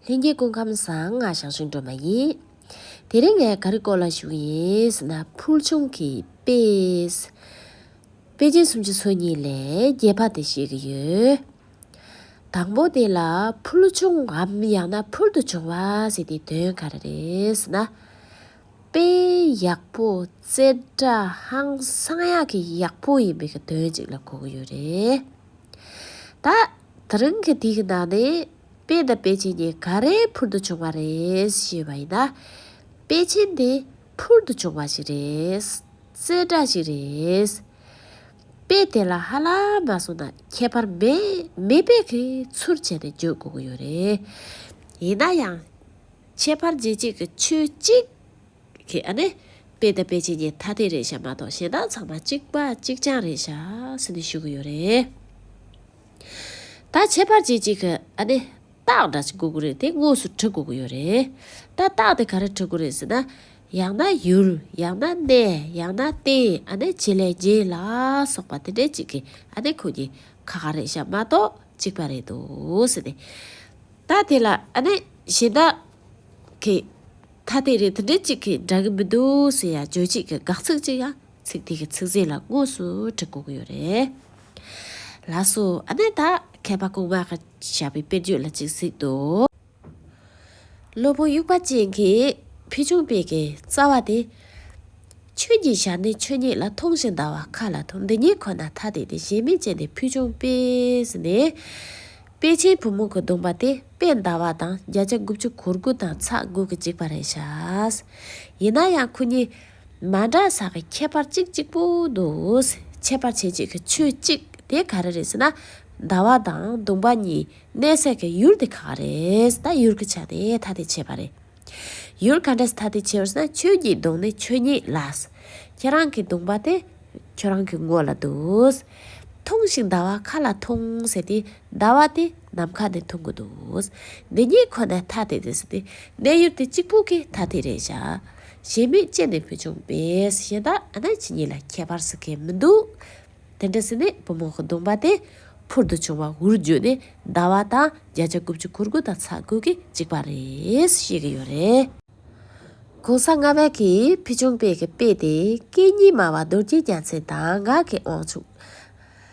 ལྷན་སྐྱེས་སྐུ་ཁམས་གསང་སྔགས་ཞང་ཞུང་སྒྲོལ་མ་ཡིན། དེ་རིང་ངས་ག་རེ་བསྐོར་ལ་ཞུགས་ཡིན་ཟེར་ན་ཕུལ་བྱུང་གི་དཔེ། དཔེ་ཆའི་སུམ་ཅུ་སོ་གཉིས་ལས་རྒྱས་པ་དེ་བཤད་ཀྱི་ཡོད། དང་པོ་དེ་ལ་ཕུལ་བྱུང་ངམ་ཡང་ན་ཕུལ་དུ་བྱུང་བ་ཟེར་དེའི་དོན་ག་རེ་རེད་ཟེར་ན། དཔེ་ཡག་པོ་བཙལ་སྒྲ་ཧང་སང་ཡག་གི་ཡག་པོ་ཡིན་པའི་དོན་ཅིག་ལ་གོ་གི་ཡོད་རེད། ད། དེ་རིང་གི་དེའི་ནང་ནས་དཔེ་དང་དཔེ་ཆེན་གཉིས་ག་རེ་འཕུར་དུ་བྱུང་བ་རེད་ཞེས་པ་ཡིན་ན། དཔེ་ཆེན་དེ་འཕུར་དུ་བྱུང་བ་ཞིག་རེད། རྩེད་འདྲ་ཞིག་རེད། དཔེ་དེ་ལ་ཧ་ལ་མ་སོང་ན་ཁྱད་པར་མེད་མེད་དཔེ་གི་ཚུར་བྱས་ནས་བརྗོད་དགོས་ཀྱི་ཡོད་རེད། ཡིན་ན་ཡང། ཁྱད་པར་རྗེས་གཅིག་གི་ཆོས་གཅིག་གིས་ཨ་ནི་དཔེ་དང་དཔེ་ཆེན་གཉིས་ཐ་དད་རེད་བཤད་མ་གཏོགས་གཞན་དག་ཚང་མ་གཅིག་པ་གཅིག་རྐྱང་རེད་བཤད་ཟིན་ནས་ཞུ་གི་ཡོད་རེད། ད་ཁྱད་པར་ཅིག་ཅིག་ཨ་ནི། རྟགས་འདྲ་གཅིག་གོ་དགོས་རེད་དེ་དངོས་སུ་བྲི་དགོས་ཀྱི་ཡོད་རེད། ད་རྟགས་དེ་ག་རེ་བྲི་དགོས་རེད་ཟེར་ན། ཡང་ན་ཡུལ་ཡང་ན་གནས་ཡང་ན་རྟེན་ཨ་ནི་བྱེད་ལས་རྒྱན་ལ་སོགས་པ་དེ་འདྲའི་ཅིག་གིས་ཨ་ནི་ཁོ་གཉིས་ཁ་ཁ་རེད་བྱ་མ་གཏོགས་ཅིག་པ་རེད་འདུག་ཟེར་ནས། ད་དེ་ལ་ཨ་ནི་གཞན་དག་གིས། ཐ་དད་རེད་དེ་འདྲའི་ཅིག་གིས་འདྲ་གི་མི་འདུག་ཟེར་ཡང་བརྗོད་བྱེད་ཀྱི་དགག་ཚིག་ཅིག་ཡང་ཚིག་དེ་གི་ཚིག་རྗེས་ལ་དངོས་སུ་བྲི་དགོས་ཀྱི་ཡོད་རེད། ལགས་སོ། ཨ་ནེ་ད། མཁས་པ་སྐུ་ངག་གི་བྱ་བའི་དཔེར་བརྗོད་ལ་ཅིག་གཟིགས་དོ། སློབ་བུ་དབྱུག་པ་ཅན་གྱི་ཕུལ་བྱུང་དཔེ་གྱི་རྩ་བ་དེ། ཆོས་ཉིད་བྱ་ནི་ཆོས་ཉིད་ལ་མཐོང་ཞིང་འདའ་བ་མཁའ་ལ་འཐོར་འདི་གཉིས་ཁོ་ན་ཐ་དད་དེ་གཞན་མིན་ཅན་ནི་ཕུལ་བྱུང་དཔེ་ཟེར་ནས། དཔལ་ཆེན་བུ་མོ་གི་གདུང་པ་དེ་དཔེ་འདའ་བ་དང་བརྒྱ་ཆ་དགུ་བཅུ་གོ་དགུ་དང་ཚ་དགུ་གི་གཅིག་པ་རེད་བྱ། ཡིན་ན་ཡང་ཁོ་གཉིས་མ་འདྲ་ས་གི་ཁྱད་པར་གཅིག་གཅིག་པུ་འདུག་འཆད་པར་བྱེད་ཅིག་ཆོས་གཅིག་དེ་ག་རེ་རེད་ཟེར་ན། ཟླ་བ་དང་བདུན་པ་གཉིས་གནས་ས་གི་ཡུལ་དེ་ག་ག་རེད་ད་ཡུལ་གྱི་ཆ་དེ་ཐ་དད་ཆེ་བ་རེད། ཡུལ་ག་འདྲས་ཐ་དད་ཆེ་བར་ཟེར་ན་ཁྱོད་ཀྱི་གདོང་ནི་ཆོས་ཉིད་ལ། ཁྱེད་རང་གི་གདུང་པ་དེ་ཁྱོད་རང་གི་མགོ་ལ་འདུག། ཐུང་ཞིག་ཟླ་བ་ག་ལ་ཐུང་ཟེར་དུས་ཟླ་བ་དེ་ནམ་མཁའ་ནས་འཐུང་གི་འདུག་འདི་གཉིས་ཁོ་ན་ཐ་དད་དེ་ཟེར་ཏེ་གནས་ཡུལ་དེ་གཅིག་པུ་གི་ཐ་དད་རེད་བྱ། ཞེན་མེད་ཅན་ནས་བུ་ཆུང་བས་གཞན་དག་ཨ་ན་ཅི་གཉིས་ལ་ཁྱད་པར་ཟེར་མཁན་མི་འདུག་དེ་འདྲ་ཟེར་ནས་བུ་མོ་གདོང་པ་དེ་འཕུར་དུ་བྱུང་བ་འུར་བརྗོད་ནས་ཟླ་བ་དང་བརྒྱ་ཆ་དགུ་བཅུ་གོ་དགུ་དང་ཚ་དགུ་གི་གཅིག་པ་རེད་བཤད་གི་ཡོད་རེད། གོང་ས་ལྔ་བས་ཀྱིས་བུ་ཆུང་བས་ཀྱི་དཔེ་དེ་སྐད་གཉིས་སྨྲ་བ་རྡོ་རྗེ་རྒྱ་མཚན་དང་ངག་གི་དབང་ཕྱུག།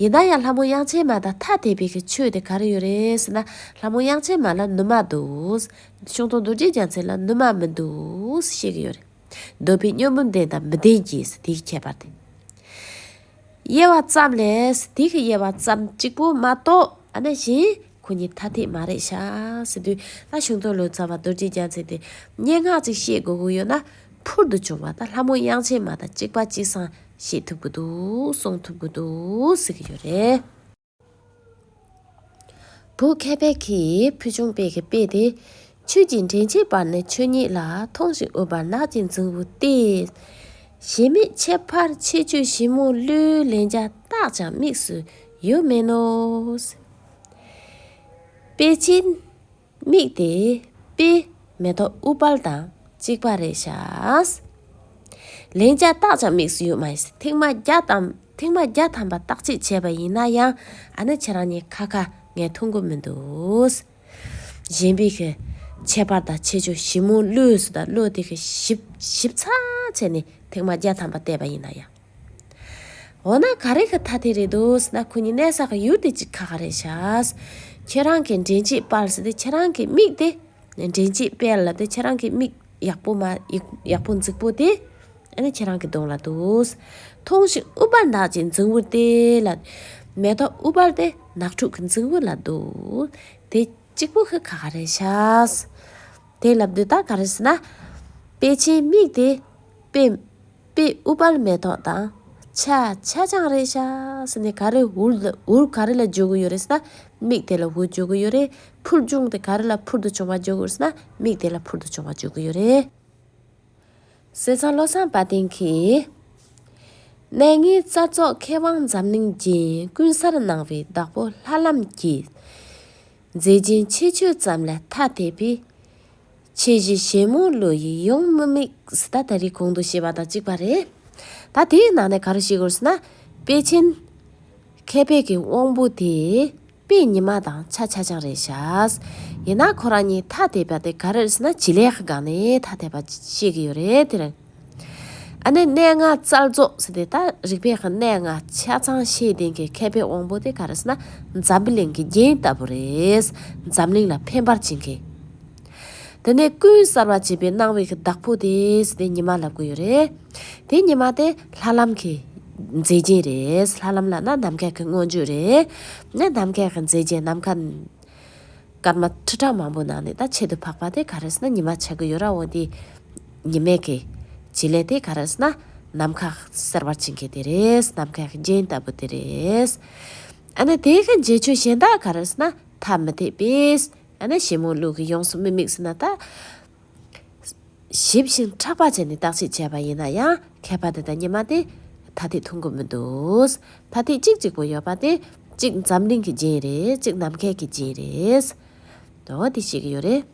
ཡིན་ན་ཡང་ལྷ་མོ་དབྱངས་ཅན་མ་དང་ཐ་དད་པའི་གི་ཆོས་དེ་ག་རེ་ཡོད་རེད་ཟེར་ན་ལྷ་མོ་དབྱངས་ཅན་མ་ལ་ནུ་མ་འདུག། ཤིང་སྡོང་རྡོ་རྗེ་རྒྱ་མཚན་ལ་ནུ་མ་མི་འདུག་བཤད་གི་ཡོད་རེད། འདོད་པའི་སྨྱོ་འབུམ་ལྡན་དང་མི་ལྡན་གྱི་ཟེར་དེའི་ཁྱད་པར་དེ། དབྱེ་བ་ཙམ་ལས་ཟེར་དེ་གི་དབྱེ་བ་ཙམ་གཅིག་པོ་མ་གཏོགས་ཨ་ན་གཞན། ཁོ་གཉིས་ཐ་དད་མ་རེད་ཤག་ཟེར་དུས་ད་གཞུང་དོན་ལོ་ཙཱ་བ་རྡོ་རྗེ་རྒྱ་མཚན་དེ་སྙན་ངག་ཅིག་བཤད་དགོས་ཀྱི་ཡོད་ན་ཕུར་དུ་བྱུང་བ་ད་ལྷ་མོ་དབྱངས་ཅན་མ་ད་གཅིག་པ་གཅིག་སང་བཤད་ཐུབ་ཀྱི་འདུག་གསུང་ཐུབ་ཀྱི་འདུག་ཟེར་གྱི་ཡོད་རེད། བོད་མཁས་པའི་གིས་ཕུལ་བྱུང་དཔེ་གི་དཔེ་དེ་ཆོས་ཀྱི་འདྲེན་བྱེད་པར་ནི་ཆོས་ཉིད་ལ་ཐོང་ཞིང་འུར་བར་ནགས་ཀྱི་འཛིང་བུ་སྟེ། གཞལ་མེད་ཁྱད་པར་ཆེ་ཆོས་ཞིབ་མོ་བློའི་ལན་བརྒྱ་རྟགས་ཀྱང་དམིགས་སུ་ཡོད་མིན་ནོ། དཔེ་ཅན། དམིགས་ཏེ་དཔེའི་མེ་ཏོག་དབུ་ཕར་དང་གཅིག་པ་རེ་བྱ། ལན་བརྒྱ་རྟགས་ཀྱང་དམིགས་སུ་ཡོད་མ་ཡིན། ཐེངས་མ་བརྒྱ་དང་ཐེངས་མ་བརྒྱ་ཐམ་པ་རྟགས་ཆད་བྱས་པ་ཡིན་ན་ཡང་ཨ་ནི་ཁྱེད་རང་གཉིས་ཁ་ཁ་ངས་འཐུང་གི་མི་འདུག། གཞན་པའི་ཁྱད་པར་དང་ཁྱད་ཆོས་ཞིབ་མོ་བློས་སུ་དང་བློས་དེ་ཞིབ་ཚགས་བྱས་ནས་ཐེངས་མ་བརྒྱ་ཐམ་པ་བལྟས་པ་ཡིན་ན་ཡང། འོ་ན་ག་རེ་གི་ཐ་དེ་རེད་འདུག་ཟེར་ན་ཁོ་གཉིས་གནས་ས་གི་ཡུལ་དེ་གཅིག་ཁ་ག་རེ་ཤགས། ཁྱེད་རང་གི་འདྲེན་བྱེད་པར་ཟེར་ཏེ་ཁྱེད་རང་གི་མིག་དེ། འདྲེན་བྱེད་པས་ལབ་སྟེ་ཁྱེད་རང་གི་མིག་ཡག་པོ་མ་ཡག་པོ་འཛིག་པོ་དེ། ཨ་ནི་ཁྱེད་རང་གི་གདོང་ལ་འདུག། ཐོང་ཤིག་ཨུ་པར་ནག་ཅིག་འཛིང་བུར་དེ་ལ། མེ་ཏོག་ཨུ་པར་དེ་ནག་ཕྲུག་གི་འཛིང་བུ་ལ་འདུག། དེ་གཅིག་པོ་གི་ཁ་ག་རེ་ཤགས། དེ་ལབ་དུས་ད་ག་རེ་ཟེར་ན། དཔེ་ཆའི་མིག་དེ། དཔེ། པས་ཨུ་པར་མེ་ཏོག་དང། ཆ། ཆ་ཆང་རེ་བྱ། ཟེར་ནས་ག་རེ་འུར་ལ་འུར་ག་རེ་ལ་འཇོག་གི་ཡོད་རེད་ཟེར་ན། མིག་དེ་ལ་འུར་འཇོག་གི་ཡོད་རེད། འཕུར་མཇུག་དེ་ག་རེ་ལ་འཕུར་དུ་བྱུང་བ་འཇོག་གི་ཡོད་ཟེར་ན། མིག་དེ་ལ་འཕུར་དུ་བྱུང་བ་འཇོག་གི་ཡོད་རེད། ཟེར་ཙང་བློ་བཟང་བ་དན་གྱིས། གནས་ངེས་རྩ་རྫོགས་མཁས་དབང་འཛམ་གླིང་རྒྱན་ཀུན་གསར་གནང་བའི་བདག་པོ་ལྷ་ལམ་གྱིས། མཛེས་རྒྱན་ཆེ་ཆོས་ཙམ་ལ་ཐ་དད་པས། ཆོས་བཞི་ཞེན་མོང་བློ་ཡིས་ཡོངས་མི་དམིགས་ད་ལྟ་རི་གོང་དུ་ཞེས་པ་དང་གཅིག་པ་རེད། ད་དེའི་ནང་ནས་ག་རེ་ཤེས་དགོས་ཟེར་ན། དཔལ་ཆེན། མཁས་པའི་གི་དབང་པོ་དེ། དཔེ་ཉི་མ་དང་ཆ་ཆ་ཆང་རེད་བྱ། ཡིན་ན་ཁོ་རང་གཉིས་ཐ་དད་པ་དེ་ག་རེ་ཟེར་ན་བྱེད་ལས་སྒང་ནས་ཐ་དད་པ་ཤེས་ཀྱི་ཡོད་རེད་དེ་རིང། ཨ་ནི་གནས་ལྔ་རྩལ་རྫོགས་ཟེར་ཏེ་ད་རིག་པའི་གནས་ལྔ་ཆ་ཚང་ཤེས་ལྡན་གྱི་མཁས་པའི་དབང་པོ་དེ་ག་རེ་ཟེར་ན་འཛམ་བུ་གླིང་གི་རྒྱན་ལྟ་བུ་རེད། འཛམ་གླིང་ལ་ཕན་པར་བྱེད་མཁན། དེ་ནས་ཀུན་གསར་བ་བྱེད་པའི་སྣང་བའི་གི་བདག་པོ་དེ་ཟེར་ཏེ་ཉི་མ་ལབ་གི་ཡོད་རེད། དེ་ཉི་མ་དེ་ལྷ་ལམ་གྱི་མཛེས་རྒྱན་རེད། ལྷ་ལམ་ལ་ན་ནམ་མཁའ་གི་མངོན་བརྗོད་རེད། ནམ་མཁའ་གི་མཛེས་རྒྱན་ནམ་མཁའ། སྐར་མ་ཁྲི་ཕྲག་མང་པོའི་ནང་ནས་ད་ཆེད་དུ་འཕགས་པ་དེ་ག་རེ་ཟེར་ན་ཉི་མ་བྱེད་ཀྱི་ཡོད་ར་འོ་དེ། ཉི་མས་ཀྱི། བྱེད་ལས་དེ་ག་རེ་ཟེར་ན། ནམ་མཁའ་གསལ་བར་བྱེད་མཁན་དེ་རེད་ནམ་མཁའི་རྒྱན་ལྟ་བུ་དེ་རེད། ཨ་ནི་དེ་གི་རྗེས་ཆོས་གཞན་དག་ག་རེ་ཟེར་ན་ཐ་མི་དད་པས། ཨ་ནི་ཞེ་མོང་ལུགས་ཀྱི་ཡོངས་སུ་མི་དམིགས་ཟེར་ན་ད། ཞིབ་བཞིན་ཕྲག་པར་བྱས་ནས་བརྟག་དཔྱད་བྱས་པ་ཡིན་ན་ཡང་མཁས་པ་འདི་དང་གཉིས་མ་སྟེ། ཐ་ཐིག་ཐུང་གུ་མི་འདུག། ཐ་ཐིག་གཅིག་གཅིག་པོ་ཡོད་པ་སྟེ། གཅིག་འཛམ་གླིང་གི་སྦྱིན་རེད་གཅིག་ནམ་མཁས་ཀྱི་སྦྱིན་རེད། འོ་དེ་ཤེས་ཀྱི་ཡོད་རེད།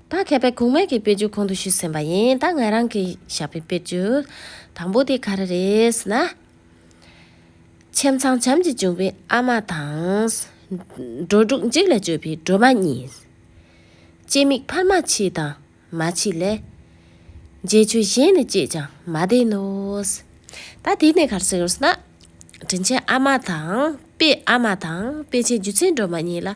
ད་མཁས་པས་གུང་མེད་ཀྱི་དཔེ་བརྗོད་གོང་དུ་ཞུས་ཟིན་པ་ཡིན་ད་ང་རང་གིས་བཞག་པའི་དཔེ་བརྗོད་དང་པོ་དེ་ག་རེ་རེད་ན། ཁྱིམ་ཚང་བྱམས་ཀྱིས་བྱུང་བའི་ཨ་མ་དང། འགྲོ་དྲུག་འཇིགས་ལ་སྤྱོད་པའི་སྒྲོལ་མ་གཉིས། སྐྱེ་དམིགས་འཕར་མ་མཆིས་དང་མ་མཆིས་ལས། འབྱེད་ཆོས་གཞན་ནི་སྐྱེས་ཀྱང་མ་བདེན་ནོ། ད་དེ་ནས་གར་སེལ་ཟེར་ན། དྲིན་ཆེན་ཨ་མ་དང་དཔེ་ཨ་མ་དང་དཔེ་ཆེན་རྒྱུ་མཚན་སྒྲོལ་མ་གཉིས་ལ།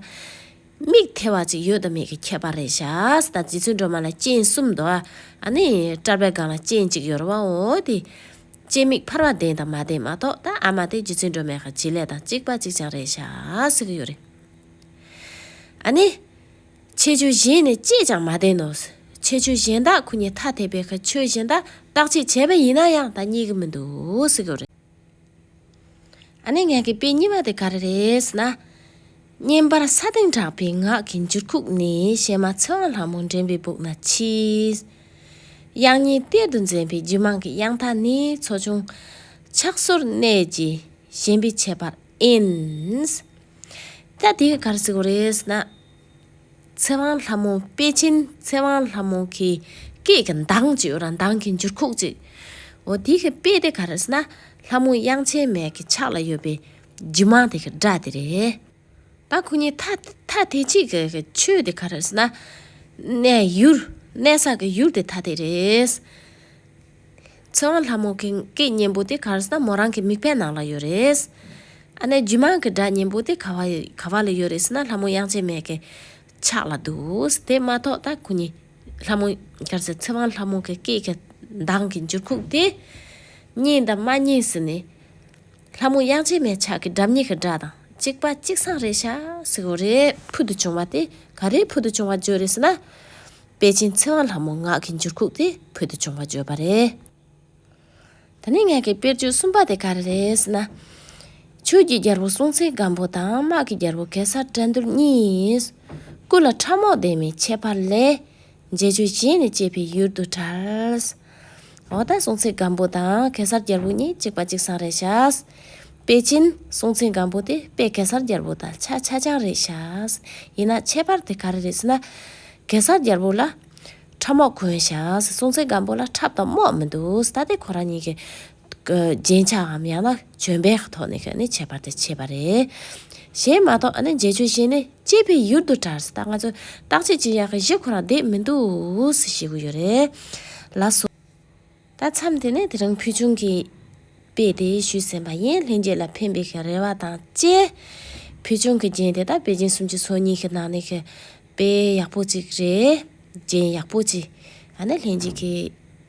དམིགས་ཐལ་བ་ཅིག་ཡོད་དམ་མེད་ཀྱི་ཁྱད་པར་རེད་ཤག་ད་རྒྱུ་མཚན་སྒྲོལ་མ་ལ་སྤྱན་གསུམ་དུ། ཨ་ནི་སྐྲར་པའི་སྒང་ལ་སྤྱན་གཅིག་ཡོད་རུང་བ་འོ་དེ། སྐྱེ་དམིགས་འཕར་བ་བདེན་དང་མ་བདེན་མ་གཏོགས་ད་ཨ་མ་དེ་རྒྱུ་མཚན་སྒྲོལ་མའི་ཁ་བྱི་ལས་དང་གཅིག་པ་གཅིག་ཅང་རེད་ཤག་ཟེར་གྱི་ཡོད་རེད། ཨ་ནི། ཁྱེད་ཆོས་གཞན་ནས་ཅིས་ཀྱང་མ་བདེན་ནོ། ཁྱེད་ཆོས་གཞན་དག་ཁོ་ཉིད་ཐ་དད་པའི་ཁར་ཆོས་གཞན་དག་བརྟག་དཔྱད་བྱས་པ་ཡིན་ན་ཡང་ད་གཉིས་ཀ་མི་འདུག། ཨ་ནི་ངག་གི་དཔེ་གཉིས་པ་དེ་ག་རེ་རེད་ཟེར་ན། བསྙེན་པར་ས་སྟེང་གྲགས་པའི་ངག་གི་འགྱུར་ཁུགས་ནི་གཤེད་མ་ཚེ་དབང་ལྷ་མོ་འདྲེན་པའི་སྦུག་ན་མཆིས། དབྱངས་ཉིད་གཏེར་དུ་འཛིན་པའི་རྒྱུད་མངས་ཀྱི་དབྱངས་མཐའ་ནི་མཚོ་བྱུང། ཕྱག་སོར་གནས་ཀྱི་ཞེན་པས་ཆད་པར་ཨེ་འིན། ཀྱ་དེ་ག་རེ་ཟེར་བ་རེད་ཟེར་ན། ཚེ་དབང་ལྷ་མོ་པེ་ཅིན་ཚེ་དབང་ལྷ་མོ་གི་སྐད་ཀྱི་མདངས་ཅིག་ཡོད་ར་མདངས་ཀྱི་འགྱུར་ཁུགས་ཅིག། འོ་དེ་གི་པེ་དེ་ག་རེ་ཟེར་ན་ལྷ་མོ་དབྱངས་ཆེན་མས་ཀྱི་ཕྱག་ལ་ཡོད་པའི་རྒྱུ་མང་དེ་གི་སྒྲ་དེ་རེད། ད་ཁོ་གཉིས་ཐ་ཐ་དེ་གཅིག་གི་གི་ཆོས་དེ་ག་རེ་ཟེར་ན། གནས་ཡུལ་གནས་ས་གི་ཡུལ་དེ་ཐ་དེ་རེད། ཚེ་དབང་ལྷ་མོ་གིང་གི་སྙན་པོ་དེ་གར་སོང་ན་མོ་རང་གི་མིག་ཕའི་ནང་ལ་ཡོད་རེད། ཨ་ནེ་རྒྱུད་མངས་ཀྱི་སྒྲ་སྙན་པོ་དེ་ག་བ་ག་བ་ལ་ཡོད་རེད་ཟེར་ན་ལྷ་མོ་དབྱངས་ཅན་མས་ཀྱི་ཕྱག་ལ་འདུག་དེ་མ་གཏོགས་ད་ཁོ་གཉིས་ལྷ་མོ་གར་སོང་ཚེ་དབང་ལྷ་མོ་གི་སྐད་ཀྱི་མདངས་ཀྱི་འགྱུར་ཁུགས་དེ་རྙེད་དམ་མ་རྙེད་ཟེར་ནས། ལྷ་མོ་དབྱངས་ཅན་མའི་ཕྱག་གི་འགྲམ་གཉིས་ཀྱི་སྒྲ་དང་གཅིག་པ་གཅིག་སངས་རེད་ཤག་ཟེར་གོ་རེད་ཕུལ་དུ་བྱུང་བ་དེ་ག་རེའི་ཕུལ་དུ་བྱུང་བ་བརྗོད་རེད་ཟེར་ན། དཔལ་ཆེན་ཚེ་དབང་ལྷ་མོ་ངག་གི་འགྱུར་ཁུག་དེ་བོད་དུ་བྱུང་བ་བརྗོད་པ་རེད། ད་ནི་ངག་གི་དཔེར་བརྗོད་གསུམ་པ་དེ་ག་རེ་རེད་ཟེར་ན། ཆོས་ཀྱི་རྒྱལ་པོ་སྲོང་བཙན་སྒམ་པོ་དང་དམག་གི་རྒྱལ་པོ་གེ་སར་བཀྲ་འདུལ་གཉིས། སྐུ་ལ་ཁྲབ་རྨོག་ལྡན་མིན་ཁྱད་པར་ལས། མཇལ་ཆོས་བྱས་ནས་སྐྱེས་པའི་ཡུལ་དུ་གྲལ། འོག་ཏུ་སྲུང་བྱའི་སྒམ་པོ་དང་གེ་སར་རྒྱལ་པོ་གཉིས་གཅིག་པ་གཅིག་སྲང་རེ་བྱ། དཔལ་ཆེན་སྲུང་བྱའི་སྒམ་པོ་དེ་དཔལ་གེ་སར་རྒྱལ་པོ་དང་ཆ་ཆ་རྐྱང་རེ་བྱ། ཡིན་ན་ཁྱད་པར་དེ་ག་རེ་རེད་ཟེར་ན། གེ་སར་རྒྱལ་པོ་ལ་ཁྲབ་རྨོག་གོན་བྱ། སྲུང་བྱའི་སྒམ་པོ་ལ་ཁྲབ་དང་རྨོག་མི་འདུག་ད་ལྟའི་ཁོ་རང་གཉིས་ཀྱི། རྒྱན་ཆའམ་ཡང་ན་བྱོན་པའི་ཐོག་ནས་ཁྱོད་ནི་ཁྱད་པར་དུ་ཆེ་བ་རེད། གཞན་མ་གཏོགས་ཨ་ནི་འཇལ་ཆོས་གཞན་ནི་སྐྱེས་པའི་ཡུལ་དུ་གྲགས་སྲིད་ད་ང་ཚོས་བརྟག་དཔྱད་ཅི་ཡག་གི་གཞི་ཁོ་རང་བསྡད་མི་འདུག་ཟེ་ཤེས་གི་ཡོད་རེད་ལ་སོ། ད་མཚམས་དེ་ནས་དེ་རིང་ཕུལ་བྱུང་གི་དཔེ་དེ་ཞུས་ཟིན་པ་ཡིན་ལྷན་རྒྱས་ལ་ཕན་པའི་རེ་བ་དང་བཅས། ཕུལ་བྱུང་གི་རྒྱན་དེ་དག་པེ་ཅིན་སུམ་ཅུ་སོ་གཉིས་ཀྱི་ནང་ནས་ཀྱི་དཔེ་ཡག་པོ་གཅིག་རེད། རྒྱན་ཡག་པོ་གཅིག་ཨ་ནི་ལྷན་རྒྱས་ཀྱི།